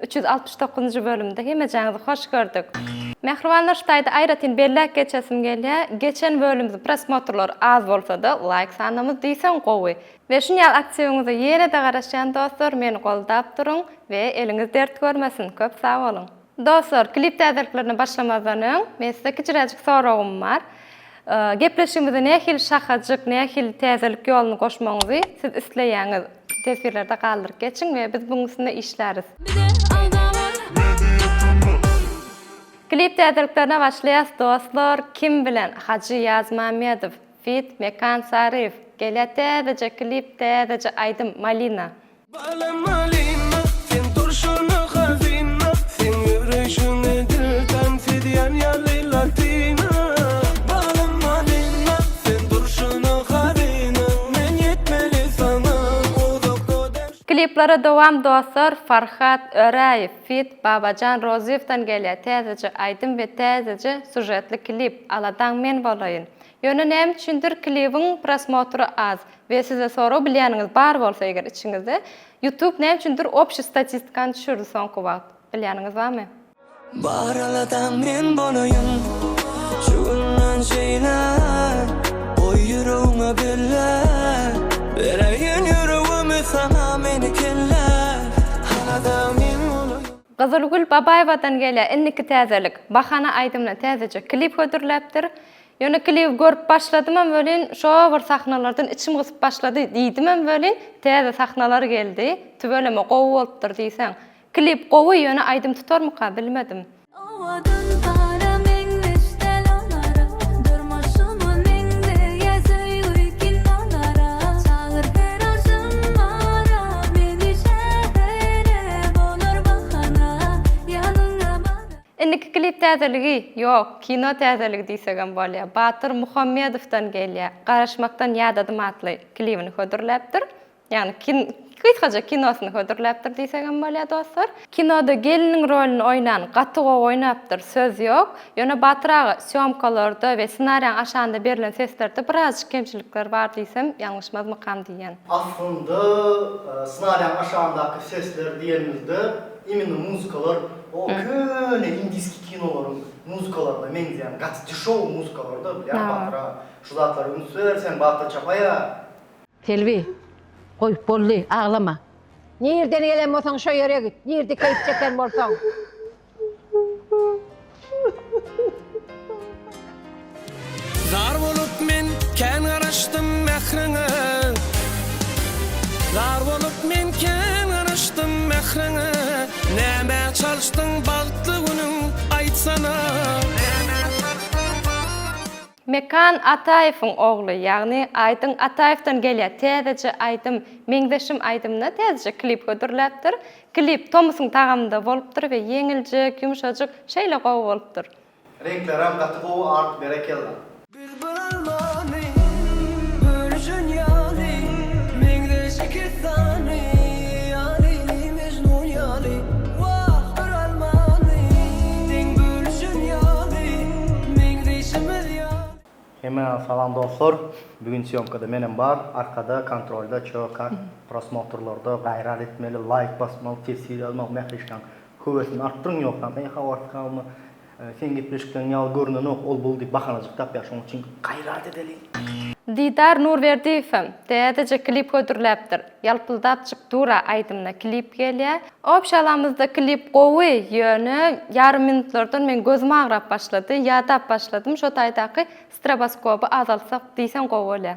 Üç ýüz altmyş dokuzynjy bölümde hemejäňizi hoş gördük. Mähriban Nurştaýdy aýratyn belläp geçesim gelýä, geçen bölümde prosmotrlar az bolsada laýk sanymyz diýseň gowy. We şun ýaly aktiwiňize ýenede garaşýan dostlar meni goldap duruň we eliňiz dert görmesin köp sagboluň. Dostlar klip täzeliklerine başlamazdan öň men size kiçiräjik soragym bar. Gepleşigimize nähili şahajyk, nähili täzelik ýoluny goşmagyňyzy siz isleýäňiz? Teswirlerde galdyryp geçiň we biz buň üstünde işläris. Bize alda bar. Media tuma. Klip täzeliklerine başlaýas dostlar kim bilen Hajy Ýazmamedow feat Mekan Saryýew gelýä täzeje klip täzeje aýdym Malina. Balam Malina sen durşuna hazina seň ýöreýşiňe dil tan fidýan ýaly latina Balam Malina sen durşuna hazina. Kliplere dowam dostlar Farhat Öräýew feat Babajan Rozyýewdan gelýär täzeje aýdym we täzeje sužetli klip Aladaň men bolaýyn Ýöne näme üçindir klibiň prosmotry az we size sorag bilýäniňiz bar bolsa eger içiňizde Youtube näme üçindir obşi statistikany düşürdi soňky wagt bilýäniňiz barmy? Bar aladaň men bolaýyn Şu günden şeýle Goý ýüregiňe belle Bereýin ýüregimi saňa meni kelle Alada men bolaýyn. Gyzylgül Babaýewadan gelýär indiki täzelik. Bahana aýdymyna täzeje klip hödürläpdir. Ýöne klibi görüp başladymam welin, şo bir sahnalardan içim gysyp başlady diýdimem welin, täze sahnalar geldi. Tüweleme gowy bolupdyr diýseň. Klip gowy ýöne aýdym tutarmyka bilmedim. Owadan para meňzeş däl olara Durmuşyma meňzeýä söýgi kinolara Çagyr her agşamara meni şähere Bolar bahana ýanyňa bara. Indiki klip täzeligi, ýok, kino täzeligi diýsegem bolýar. Batyr Muhammedowdan gelýär. Garaşmakdan ýadadym atly klibini hödürläpdir. Ýagny kin gysgaja kinosyny hödürläpdir diýsegem bolýar dostlar. Kinoda gelniň rolini oýnan gaty gowy oýnapdyr söz ýok. Ýöne Batyr aga sýomkalarda we ssenariýaň aşagynda berlen seslerde birazjyk kemçilikler bar diýsem ýalňyşmazmykam diýýän. Aslynda ssenariýaň aşagyndaky sesler diýenimizde imенно muzkalar o köne indiski kinolaryň muzkalaryna meňzeýän gaty dişow muzkalarda bilýän Batyr aga şu zatlary üns ber sen Batyr Çapaýa. Selbi, goý, boldy, aglama. Nirden gelen bolsaň şo ýere git, nirde keýp çeken bolsaň. Zar bolup men kän garaşdym mähriňe Zar bolup men kän garaşdym mähriňe Näme çalyşdyň bagtly günüň aýtsana Mekan Ataýewiň ogly, ýagny Aýdyň Ataýewden gelýär täzeje aýdym, Meňzeşim aýdymyna täzeje klip hödürläpdir. Klip tomusyň tagamynda bolupdyr we ýeňiljek, ýumşajyk, şeýle gowy bolupdyr. Reňklerem gaty gowy art berekella. Bilbil almany bölüşen ýaly, Meňzeş iki sany ýaly. Hemä salam dostlar. Bu gün sýomkada menem bar. Arkada kontrolda ço kak prosmotrlarda gaýrat etmeli, laýk basmaly, teswir ýazmaly, mähriş kaň höwesini artdyryň ýogsam eý habarsyz kalma. Seň gepleşikleň ýaly görnenok, ol bul diýip bahanajyk tapýar, şoň üçin gaýrat edeliň. Didar Nurberdiýewem täzeje klip hödürläpdir. Ýalpyldap çyk dura aýdymyna klip gelýä. Obşalamyzda klip gowy, ýöne ýarym minutlardan meň gözüm agrap başlady, ýadap başladym, şo taýdaky stroboskoby azaltsak diýseň gowy bolýa.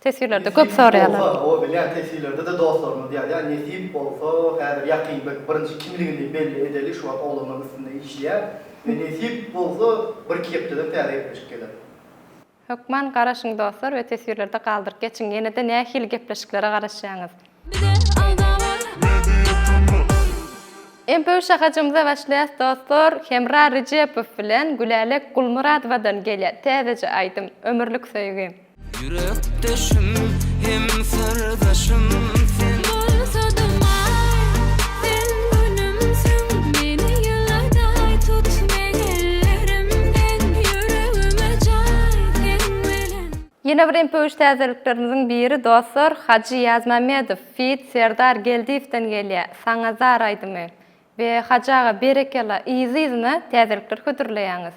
Teswirlerde köp soraýarlar. Nesip bolsa, o bilýän teswirlerde-de dostlarymyz ýazýar, nesip bolsa, häzir ýakyn bir birinji kimligini belli edeli, şu wagt oglanlar üstünde işleýär we nesip bolsa, bir-iki hepdeden täze gepleşik geler. Hökman garaşyň dostlar we teswirlerde galdyryp geçiň, ýene-de nähili gepleşiklere garaşýaňyz? Bize alda bar. Media TV. Mpu şahajymyza başlaýas dostlar, Hemra Rejepow bilen Gülälek Gulmyradowadan gelýär täzeje aýdym, Ömürlik söýgi. Ýürekdeşim hem syrdaşym sen Ýene bir impuş täzeliklerimiziň biri dostlar Hajy Ýazmämmedow feat Serdar Geldiýewden gelýä Saňa zar aýdymy we Hajy aga berekella yzy yzyna täzelikler hödürleýäňiz.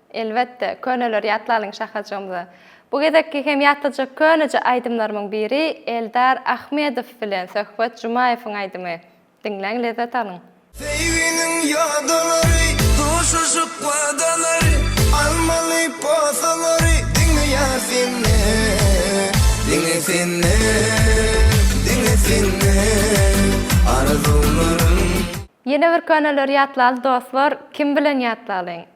Elbetde, köneleri ýatlalyň şahajygymyza. Bu gezekki hem ýatlyjak köneje aýdymlarymyň biri Eldar Ahmedow bilen söhbet Jumaýewiň aýdymy. Diňläň lezzet alyň. Söýginiň ýodalary, duşuşyk wadalary, Almaly posalary diňe ýar senden, Diňe senden, diňe senden arzuwlarym. Ýene bir köneleri ýatlaly dostlar, kim bilen ýatlalyň?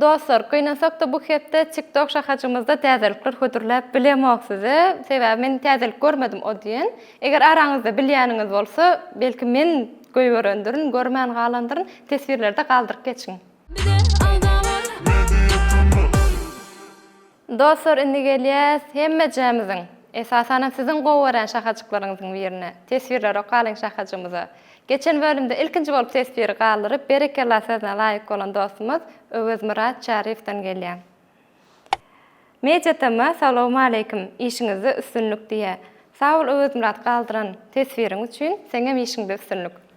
Dostlar gynansakda bu hepde tiktok şahajymyzda täzelikler hödürläp bilemok size sebäbi men täzelik görmedim o diýen eger araňyzda bilýäniňiz bolsa belki men göýberendirin görmän galandyryn teswirlerde galdyryp geçiň. Bize agza bol! Media Turnus. Dostlar indi gelýäs hemmejämiziň, esasanam siziň gowy görýän şahajyklaryňyzyň birine, teswirleri okalyň şahajymyza. Geçen bölümde ilkinji bolup teswiri galdyryp berekella sözüne laýyk bolan dostumyz Öwezmyrat Çaryýewden gelýär. Mediatm salowmaleýkim işiňizde üstünlik diýýä. Sag bol Öwezmyrat galdyran teswiriň üçin, seňem işiňde üstünlik.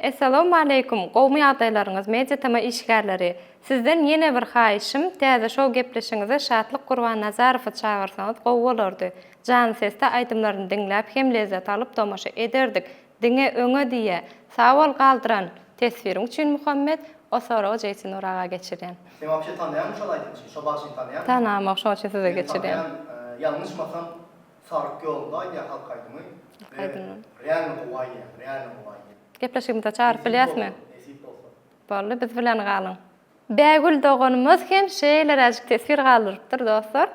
Essalawmaleýkum gowmy ýagdaýlaryňyz media tm işgärleri sizden ýene bir haýyşym täze şow gepleşigiňize Şatlyk Gurbannazarowy çagyrsaňyz gowy bolardy janly sesde aýdymlaryny diňläp hem lezzet alyp tomaşa ederdik diňe öňe diýe Sagbol galdyran teswiriň üçin Muhammet o soragy Jeýsinur aga geçirýän. Sen wapşe tanaýaňmy şol aýdymçy, şo bagşyny tanaýaňmy? Tanamok şoň üçin size geçirýän. Ýalňyşmasam Saryk ýolunda aýdýar halk aýdymy. Halk aýdymy. Realno gowy aýdýar, realno gowy aýdýar. Gepleşigimize çagyryp bilýäsmi? Nesip bolsa. Boldy, biz bilen galyň. Bägül doganymyz hem şeýleräjik teswir galdyrypdyr, dostlar.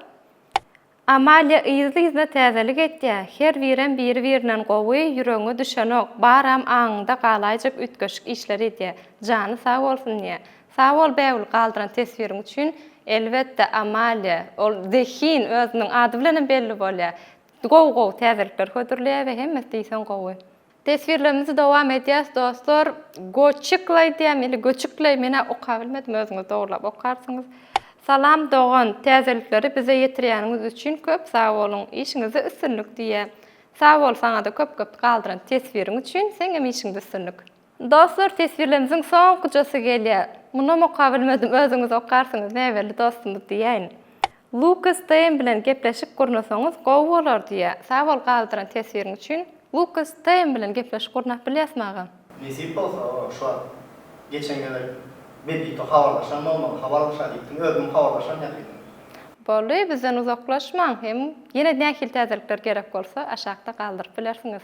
Amalia yzly-yzyna täzelik etýär, her birem biri-birinden gowy, ýüregiňe düşenok, baram aňyňda galaýjak üýtgeşik işler edýär. Jany sag bolsun diýýä. Sag bol Bägül galdyran teswiriň üçin Elbetde Amalia ol zehin özüniň ady bilenem belli bolýar. Gowy gowy täzelikler hödürleýär we hemmesi diýseň gowy. Teswirlerimizi dowam edýäs dostlar. Goçiklaý diýýämi ili göçükleý menä okabilmedim özüňiz dogurlap okarsyňyz. Salam dogan täzelikleri bize ýetirýäniňiz üçin köp sag boluň işiňizde üstünlik diýýä. Sag bol saňada köp köp galdyran teswiriň üçin seňem işiňde üstünlik. Dostlar teswirlemziň soňkujasy gelýär. Munam okap bilmedim özüňiz okarsyňyz näbelli dostumyz diýäýin. Lukas TM bilen gepleşik gurnasaňyz gowy bolar diýýä. Sag bol galdyran teswiriň üçin. Lukas TM bilen gepleşik gurnap bilýäsmi agam? Nesip bolsa ora şu wagt geçen gezek Bebito habarlaşan bolmaly habarlaşa diýipdiň özüňem habarlaşan ýatydyň. Boldy bizden uzaklaşmaň hem ýene nähili täzelikler gerek bolsa aşakda galdyryp bilersiňiz.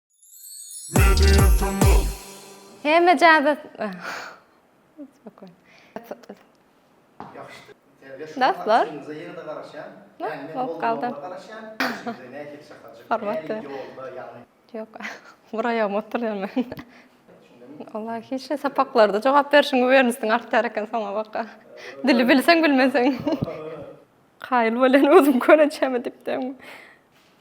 Hemme jazy Dostlar. Yok. Buraya oturayım ben. Allah hiç ne sapaklarda cevap verişin vermişsin artık terken sana baka. Dili bilsen bilmesen. Hayır böyle ne olsun kone çeme dipten.